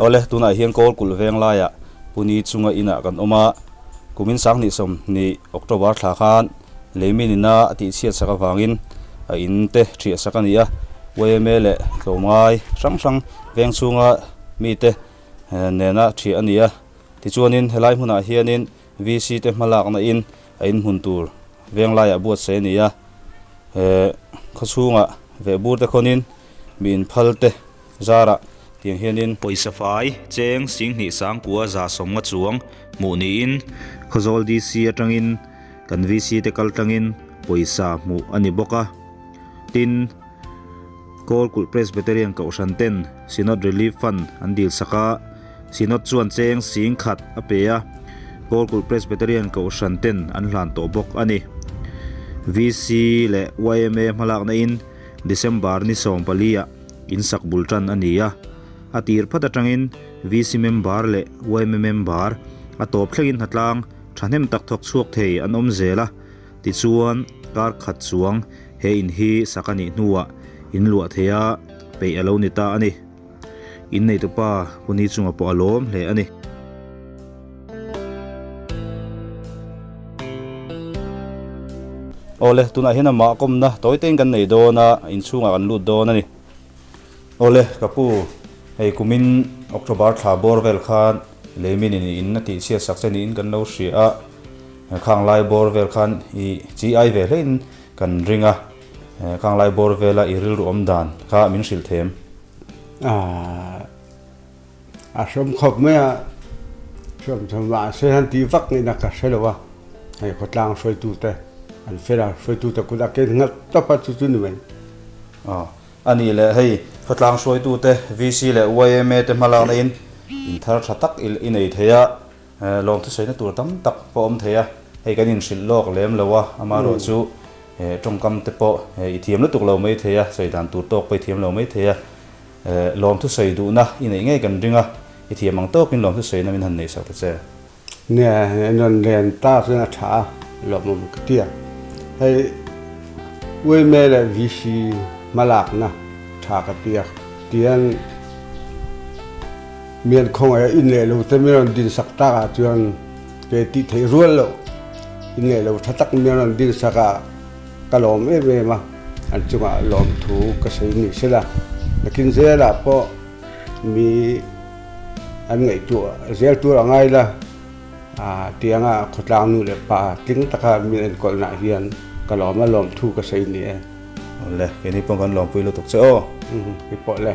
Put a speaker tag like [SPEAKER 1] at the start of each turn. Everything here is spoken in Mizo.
[SPEAKER 1] Awle, tunah hian Kawl kulh veng laiah Puni chunga inah kan awm a. Kumin Sanghnihsawm ni October thla khan Leimin ina a tihchhiatsak avangin a in te ṭhiahsak a ni a. Yma leh tlawmngai hrang hrang veng chhunga mite nena ṭhia a ni a. Tichuanin helai hmunah hianin VC te hma lakna in a in hmun tur veng lai ah buatsaih a ni a, he khawchhungah vehbur te khawnin mi in phal te zar ah tiang hian in. Pawisa fai, cheng, Singhnih Sangkua za sawmnga chuang hmuh ni in Khawzawl DC atang in kan VC te kal tang in pawisa hmuh a ni bawk a, tin. Kawl kulh Presbyterian Kohhran ten Synod Relief Fund an dil sak a, Synod chuan cheng sing khat a pe a, Kawl kulh Presbyterian Kohhran ten an hlan tawh bawk a ni. VC leh yma hmalaknain December ni sawm palia in sak bul tan a ni a, a tir phat atangin VC member leh yma member a tawp thlengin hna tlang thahnem tak thawk chhuak thei an awm zel a, Tichuan, kar khat chuang he in hi sak a nih hnuah in luah theia peih a lo ni ta a ni. In neitupa hun hi chungah pawh a lawm hle a ni. Awle, tunah hian amah kawmna tawi tein kan nei dawn a, inchhungah kan lut dawn a ni. Awle ka pu, hei kumin October thla bawr vel khan lei mi ni niin a tihchhiat sak che niin kan lo hria a, Khanglai bawr vel khan i chi ai ve hlein kan ring a, Khanglai bawr vela i rilru awm dan kha min hrilh them. Aah. A hrawm khawp mai a, hrawm tho mahse han tih vak ngei na ka hre lo a, hei khawtlang hruaitu te an fela hruaitu te kut a ken nghalh tawp a chu chu ni mai. Aw a nih leh hei khawtlang hruaitu te VC leh yma te hma lakna in in thar tha tak i i nei thei a, eh lawm thusawi na tur tam tak pawh awm thei a, hei kan in hrilh lawk lem lo a, ama rawh chu eh tawngkam te pawh eh i thiam lutuk lo mai thei a, sawi dan tur tawk pawh i thiam lo mai thei a. Eh, lawmthusawi duhna i neih ngei kan ring a, i thiam ang tawkin lawmthusawi na min han neih sawh ta che. Nia i rawn len ta chuan a tha a, lawmawm ka ti a, hei Uime leh VC hmalakna tha ka ti a, tian mian khawngaih a in leh lo te min rawn din sak tak ah chuan kei tih theih rual loh in leh lo tha tak min rawn din sak a, Ka lawm em em a, an chungah lawmthu ka sawi ni se la, nakin zelah pawh mi an ngaihtuah zel tur a ngai la, tianga khawtlang nu leh pa tling taka min enkawlhnah hian ka lawm a, lawmthu ka sawi ni e. Awle, kei ni pawng kan lawmpui lutuk che aw. Ipawh le.